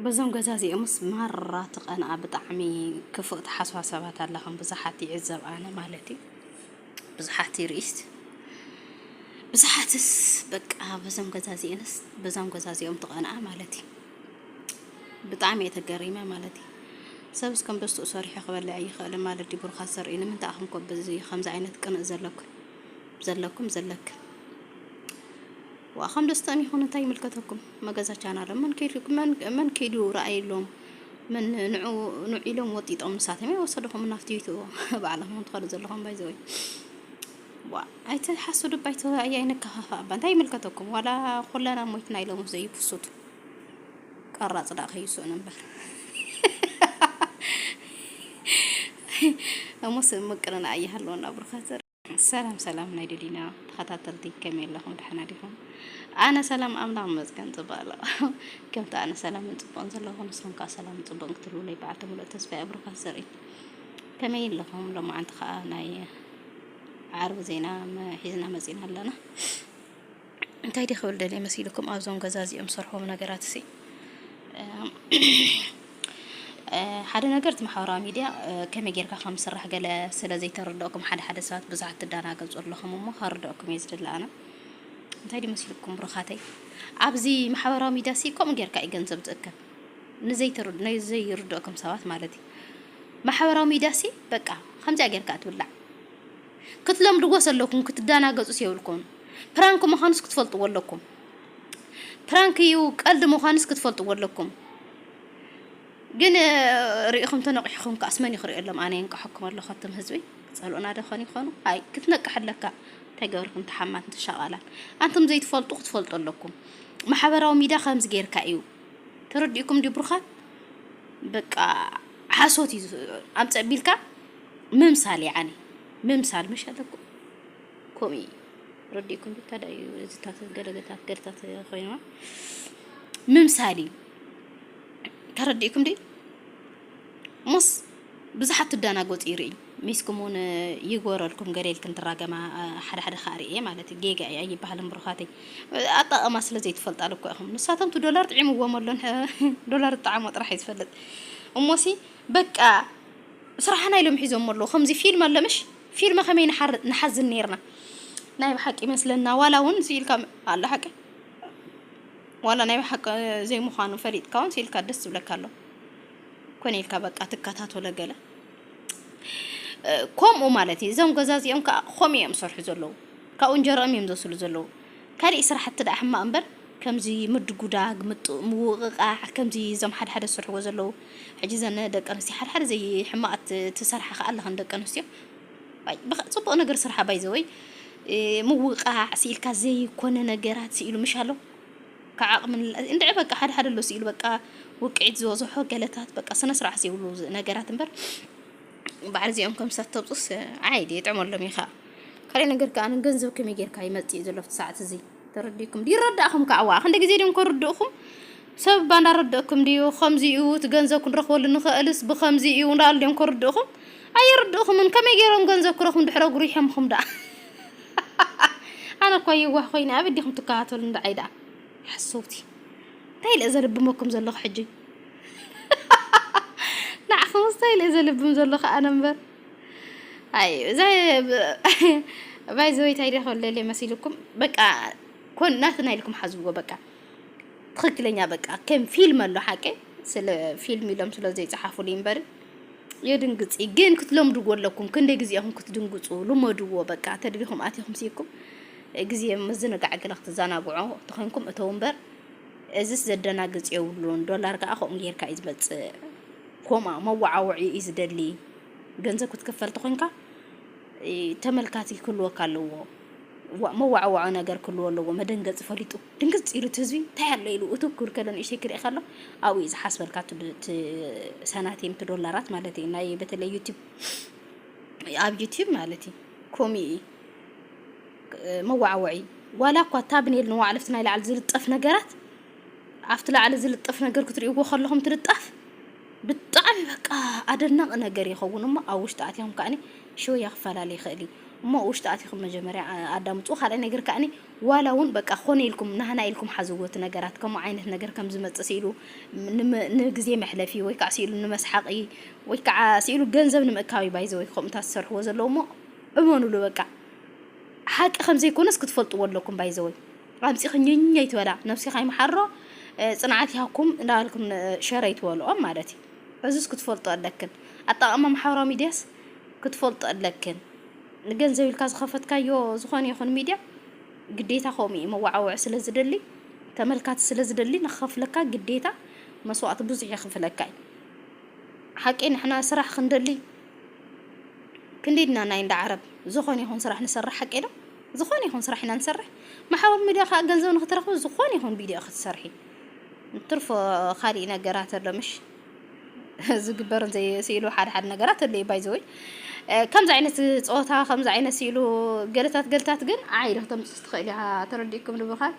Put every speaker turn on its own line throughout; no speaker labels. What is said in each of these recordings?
በዞም ገዛ እዚኦምስ ማራ ትቀንኣ ብጣዕሚ ክፉእ ትሓስባ ሰባት ኣለኽም ብዙሓት ይዕዘብ ኣነ ማለት እዩ ብዙሓት ይርእስ ብዙሓትስ በቃ በዞም ገዛ እዚኦንስ በዞም ገዛ እዚኦም ትቀንኣ ማለት እዩ ብጣዕሚ እየ ተገሪመ ማለት እዩ ሰብ እስከም ደስትኡ ሰሪሑ ክበልዕ ኣይኽእልን ማለት ድዩ? ብሩኻት ዘርኢ ንምንታይ ኣኹም ኮ ብዚ ከምዚ ዓይነት ቅንእ ዘለኩም ዘለኩም ዘለክም ዋኸም ደስተኦም ይኹን እንታይ ይምልከተኩም? መገዛ ቻናሎም መን ከይዱ መን መን ከይዱ ረኣይሎም መን ንዑ ንዑ ኢሎም ወጢጦም ንሳቶም ወሰድኹም ናብቲ ይትዎ ባዕልኹም ትኸዱ ዘለኹም ባይዘወይ ዋ ኣይተ ሓሱድ እባ ኣይተ ኣያይ ንከፋፋ እባ እንታይ ይምልከተኩም ዋላ ኩለና ሞይትና ኢሎም ዘይፍሱቱ ቀራጽ ዳእ ከይስኡን እምበር እሞስ ምቅርና ኣይሃለወና ብሩኻት ሰላም ሰላም ናይ ደሊና ተኸታተልቲ ከመይ ኣለኹም ደሓና ዲኹም? ኣነ ሰላም ኣምላኽ ይመስገን ጽቡቕ ኣሎ ከምቲ ኣነ ሰላምን ጽቡቕን ዘለኹ ንስኹም ከዓ ሰላም ጽቡቕን ክትህልውለይ በዓልቲ ሙሉእ ተስፋ ኣብሩኻት ዘርኢ ከመይ ኣለኹም? ሎማዓንቲ ከዓ ናይ ዓርቢ ዜና ሒዝና መጺና ኣለና። እንታይ ድየ ክብል ደልየ መሲሉኩም ኣብዞም ገዛ እዚኦም ዝሰርሕዎም ነገራት ሲ ሓደ ነገር እቲ ማሕበራዊ ሚድያ ከመይ ጌርካ ከም ዝስራሕ ገለ ስለ ዘይተረድኦኩም ሓደ ሓደ ሰባት ብዙሓት ትዳናገጹ ኣለኹም እሞ ከረድኦኩም እየ ዝድለ ኣነ እንታይ ድዩ መሲልኩም ብሩኻተይ ኣብዚ ማሕበራዊ ሚድያ ሲ ከምኡ ጌርካ እዩ ገንዘብ ዝእከብ ንዘይርድኦኩም ሰባት ማለት እዩ ማሕበራዊ ሚድያ ሲ በቃ ከምዚኣ ጌርካ እትብላዕ ክትለምድዎስ ኣለኩም ክትዳናገጹስ የብልኩምን ፕራንክ ምካኑስ ክትፈልጥዎ ኣለኩም ፕራንክ ኢዩ ቀልዲ ምካኑስ ክትፈልጥዎ ኣለኩም ግን ሪኢኩም ተነቂሕኩም ከኣስ መን ኢዩ ክሪኦሎም ኣነ የንቀሐኩም ኣለኩ ኣቱም ህዝቢ ክጸልኡና ዶ ኮን ይኮኑ ኣይ ክትነቅሕ ኣለካ እንታይ ገበርኩም ተሓማትን ተሻቃላን ኣንቱም ዘይትፈልጡ ክትፈልጡ ኣለኩም ማሕበራዊ ሚድያ ከምዚ ጌርካ ኢዩ ተረዲእኩም ዲብሩካት በቃ ሓሶት እዩ ኣምፀ ቢልካ ምምሳል ያዓኒ ምምሳል ምሽ ኣለኩም ከምኡ እዩ ረዲእኩም ብታዳ እዩ እዚታት ገለገታት ገርታት ኮይንዋ ምምሳል እዩ ተረዲእኩም ዲ ሞስ ብዙሓት ትዳናጎፅ ይርኢ ሚስኩም እውን ይጎረልኩም ገሌልክን ትራገማ ሓደ ሓደ ከዓ ርኤ ማለት እዩ ጌጋ እዩ ኣይበሃልን ብሩኻተይ ኣጠቐማ ስለ ዘይትፈልጣሉ እኮ ኢኹም ንሳቶም እቲ ዶላር ጥዒምዎም ኣሎን ዶላር ዝጠዓሞ ጥራሕ እዩ ዝፈልጥ እሞሲ በቃ ስራሕና ኢሎም ሒዞሞ ኣለዉ ከምዚ ፊልም ኣሎ ምሽ ፊልም ከመይ ንሓር ንሓዝን ነርና ናይ ብሓቂ ይመስለና ዋላ ውን ስኢልካ ኣላ ሓቂ ዋላ ናይ ብሓቂ ዘይምዃኑ ፈሊጥካ ውን ስኢልካ ደስ ዝብለካ ኣሎ ኮነ ኢልካ በቃ ትከታተሎ ገለ ከምኡ ማለት እዩ እዞም ገዛ እዚኦም ከዓ ከምኡ እዮም ዝሰርሑ ዘለዉ ካብኡ እንጀርኦም እዮም ዘስሉ ዘለዉ ካሊእ ስራሕቲ ደኣ ሕማቕ እምበር ከምዚ ምድጉዳግ ምውቕቓዕ ከምዚ እዞም ሓደሓደ ዝሰርሕዎ ዘለዉ ሕጂ ዘን ደቂ ኣንስትዮ ሓድሓደ ዘይ ሕማቃት ትሰርሓ ከኣ ኣለክን ደቂ ኣንስትዮ ዋይ ብክ ጽቡቅ ነገር ስርሓ ባይ ዘወይ ምውቃዕ ስኢልካ ዘይኮነ ነገራት ስኢሉ ምሽ ኣሎ ካብ ዓቅሚ እንድዒ በቃ ሓደ ሓደ ኣሎ ስኢሉ በቃ ውቅዒት ዝበዝሖ ገለታት በቃ ስነ ስርዓት ዘይብሉ ነገራት እምበር በዓል እዚኦም ከም ሰብ ተብጹስ ዓይ ዲ ጥዕመሎም ኢኻ ካልእ ነገር ከኣ ገንዘብ ከመይ ጌርካ ይመጽእ ዘሎ ሰዓት እዚ ተረዲእኩም ድዩ ይረዳእኩም ከዓ ዋእ ክንደ ግዜ ድዮም ከርድእኩም ሰብ እባ እንዳረደእኩም ድዩ ከምዚ እዩ እቲ ገንዘብ ክንረክበሉ ንክእልስ ብከምዚ እዩ እንዳሉ ድዮም ከርድእኩም ኣይርድእኩምን ከመይ ገይሮም ገንዘብ ክረክቡ ድሕረ ጉሪሖምኩም ደኣ ኣነ እኳ የዋህ ኮይነ ኣበይ ዲኩም ትከታተሉ እንዳዓይ ደኣ ሓሰውቲ እንታይ ኢለ ዘልብመኩም ዘለኹ ሕጂ ንዓኹምስ እንታይ ኢለ ዘልብም ዘለኹ ኣነ እምበር ኣይ እዛ ባይዘወይ እንታይ ደኸለለ መሲልኩም በቃ ኮን ናትና ኢልኩም ሓዝዎ በቃ ትክክለኛ በቃ ከም ፊልም ኣሎ ሓቂ ስለ ፊልም ኢሎም ስለ ዘይጸሓፉሉ እምበር የድንግጽ ግን ክትለምድዎ ኣለኩም ክንደይ ግዜ ኢኹም ክትድንግጹ ልመድዎ በቃ ተድቢኹም ኣቲኹም ሲኩም ግዜ ምዝንጋዕ ገለ ክትዘናግዑ ተኾይንኩም እተው እምበር እዚስ ዘደናግጽ የብሉን ዶላር ከዓ ከምኡ ጌርካ እዩ ዝመጽእ ኮማ መዋዓውዒ እዩ ዝደሊ ገንዘብ ክትክፈል ተኾንካ ተመልካቲ ክህልወካ ኣለዎ ዋ- መዋዕዋዖ ነገር ክህልዎ ኣለዎ መደንገፂ ፈሊጡ ድንግፅ ኢሉ እቲ ህዝቢ እንታይ ኣሎ ኢሉ እቱ ክብል ከሎ ንእሽተይ ክርኢ ከሎ ኣብኡ እዩ ዝሓስበልካ እቲ ዶ- እቲ ሰናቲም እቲ ዶላራት ማለት እዩ ናይ በተለይ ዩቲብ ኣብ ዩቲብ ማለት እዩ ኮሚ እዩ መዋዕወዒ ዋላ እኳ ታብኔል ንዋዕለፍቲ ናይ ላዕሊ ዝልጠፍ ነገራት ኣብቲ ላዕሊ ዝልጠፍ ነገር ክትሪእዎ ከለኹም እቲ ልጣፍ ብጣዕሚ በቃ ኣደናቂ ነገር ይኸውን እሞ ኣብ ውሽጢ ኣትኹም ከዓኒ ሽወያ ክፈላለ ይኽእል እዩ እሞ ውሽጢ ኣትኹም መጀመርያ ኣዳምፁ ካልኣይ ነገር ከዓኒ ዋላ እውን በቃ ኮነ ኢልኩም ናህና ኢልኩም ሓዝዎ እቲ ነገራት ከምኡ ዓይነት ነገር ከም ዝመፅእ ስኢሉ ንግዜ መሕለፊ ወይ ከዓ ስኢሉ ንመስሓቂ ወይ ከዓ ስኢሉ ገንዘብ ንምእካብ ባይዘ ወይ ከምኡታት ዝሰርሕዎ ዘለዉ እሞ እመኑሉ በቃ ሓቂ ከም ዘይኮነስ ክትፈልጥዎ ኣለኩም ባይዘወይ ኣምጺኺ ኝኝ ኣይትበላ ነብሲካ ይምሓሮ ጽንዓት ይሃኩም እንዳበልክን ሸር ኣይትበልኦም ማለት እዩ እዙስ ክትፈልጦ ኣለክን ኣጠቃቅማ ማሕበራዊ ሚድያስ ክትፈልጦ ኣለክን ንገንዘብ ኢልካ ዝኸፈትካዮ ዝኾነ ይኹን ሚድያ ግዴታ ከምኡ እዩ መዋዓውዒ ስለ ዝደሊ ተመልካቲ ስለ ዝደሊ ንክኸፍለካ ግዴታ መስዋእቲ ብዙሕ የኽፍለካ እዩ ሓቂ ንሕና ስራሕ ክንደሊ ክንዲድና ናይ እንዳ ዓረብ ዝኾነ ይኹን ስራሕ ንሰርሕ ሓቂ ዶ ዝኾነ ይኹን ስራሕ ኢና ንሰርሕ ማሕበር ሚድያ ካኣ ገንዘብ ንክትረኽቢ ዝኾነ ይኹን ቪድዮ ኢኺ ትሰርሒ ንትርፎ ካሊእ ነገራት ኣሎ ምሽ ዝግበርን ዘይስኢሉ ሓደ ሓደ ነገራት ኣሎ እዩ ባይዘወይ ከምዚ ዓይነት ፆታ ከምዚ ዓይነት ስኢሉ ገለታት ገለታት ግን ዓይሪ ክተምፅስ ትኽእል እያ ተረዲእኩም ንብኻል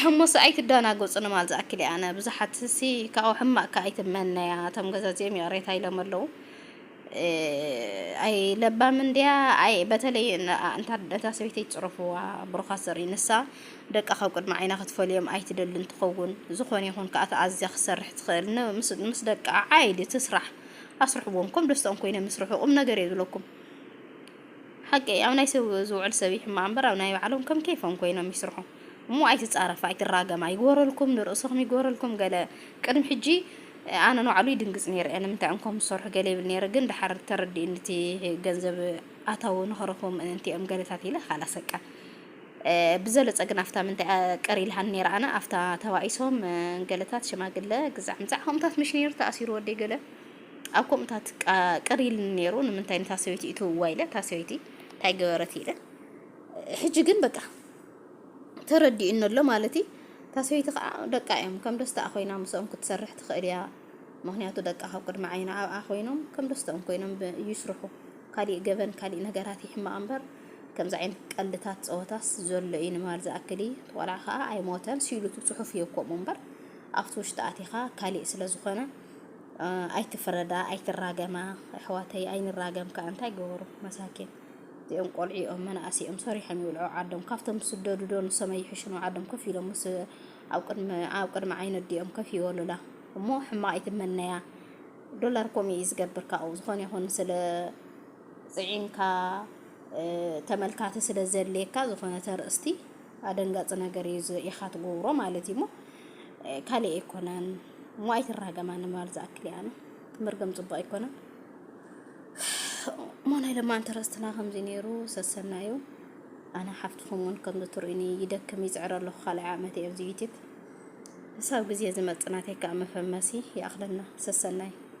እሞስ ኣይትደናገፁ ንማል ዝኣክል ኣነ ብዙሓት ሲ ካብኡ ሕማቅካ ኣይትመነያ እቶም ገዛዚኦም ይቕሬታ ኢሎም ኣለዉ ኣይ ለባም እንድያ ኣይ በተለይ እንታ እታ ሰበይተይ ጽረፍዋ ብሩኻት ዘርኢ ንሳ ደቃ ካብ ቅድሚ ዓይና ክትፈልዮም ኣይትደልን ትኸውን ዝኾነ ይኹን ከኣ ተኣዝያ ክትሰርሕ ትኽእል ን ምስ ምስ ደቃ ዓይዲ ትስራሕ ኣስርሕዎም ከም ደስታኦም ኮይኖም ይስርሑ ቁም ነገር እየ ዝብለኩም ሓቂ ኣብ ናይ ሰብ ዝውዕል ሰብ ይሕማቕ እምበር ኣብ ናይ ባዕሎም ከም ኬፎም ኮይኖም ይስርሑ እሞ ኣይትጻረፍ ኣይትራገም ኣይግበረልኩም ንርእስኹም ይግበረልኩም ገለ ቅድሚ ሕጂ ኣነ ንባዕሉ ይድንግጽ ኔረ እየ ንምንታይ እንኮ ምስ ሰርሑ ገለ ይብል ኔረ ግን ደሓር ተረዲእኒ እቲ ገንዘብ ኣታዊ ንኸረኽቡ ምእንቲ እዮም ገለታት ኢለ ካላ ሰቀ ብዘለጸ ግን ኣፍታ ምንታይ ቅር ኢልሃኒ ኔረ ኣነ ኣፍታ ተባኢሶም ገለታት ሽማግለ ግዛዕ ምዛዕ ከምኡታት ምሽ ኔሩ ተኣሲሩ ወደይ ገለ ኣብ ከምኡታት ቅር ኢልኒ ኔሩ ንምንታይ ንታ ሰበይቲ እትውዋ ኢለ እታ ሰበይቲ እንታይ ገበረት ኢለ ሕጂ ግን በቃ ተረዲኡኒ ኣሎ ማለት እዩ። እታ ሰበይቲ ከኣ ደቃ እዮም፣ ከም ደስትኣ ኮይና ምስኦም ክትሰርሕ ትኽእል እያ፣ ምኽንያቱ ደቃ ካብ ቅድሚ ዓይና ኣብኣ ኮይኖም ከም ደስትኦም ኮይኖም ይስርሑ። ካሊእ ገበን ካሊእ ነገራት ይሕመቓ እምበር ከምዚ ዓይነት ቀልድታት ጸወታስ ዘሎ እዩ ንማል ዝኣክል እዩ። እቲ ቆልዓ ከኣ ኣይሞተን ሲሉ እቲ ጽሑፍ እዩ ከምኡ እምበር ኣብቲ ውሽጢ ኣቲኻ ካሊእ ስለ ዝኾነ ኣይትፍረዳ ኣይትራገማ ኣሕዋተይ ኣይንራገም ከኣ እንታይ ገበሩ መሳኪን። እዚኦም ቆልዑኦም መናእሰይኦም ሰሪሖም ይብልዑ ዓዶም ካብቶም ዝስደዱ ዶ ንሶም ኣይሕሹኑ ዓዶም ኮፍ ኢሎም ምስ ኣብ ቅድሚ ኣብ ቅድሚ ዓይኒ ኣዲኦም ኮፍ ይበሉላ እሞ ሕማቅ ይትመነያ ዶላር ኮም እዩ ዝገብር ካብኡ ዝኾነ ይኹን ስለ ጽዒንካ ተመልካቲ ስለ ዘድልየካ ዝኾነ ተርእስቲ ኣደንጋጺ ነገር እዩ ኢኻ ትገብሮ ማለት እዩ እሞ ካልእ ኣይኮነን እሞ ኣይትራገማ ንማል ዝኣክል እያ ትምርገም ጽቡቅ ኣይኮነን ሞናይ ለማ እንተረስትና ከምዚ ነይሩ ሰሰና እዩ ኣነ ሓፍትኹም እውን ከምዚ ትርእኒ ይደክም ይፅዕረ ኣለኹ ካልኣይ ዓመት እየ ኣብዚ ዩቲብ ክሳብ ግዜ ዝመፅእ ናተይ ከዓ መፈመሲ ይኣኽለና ሰሰናይ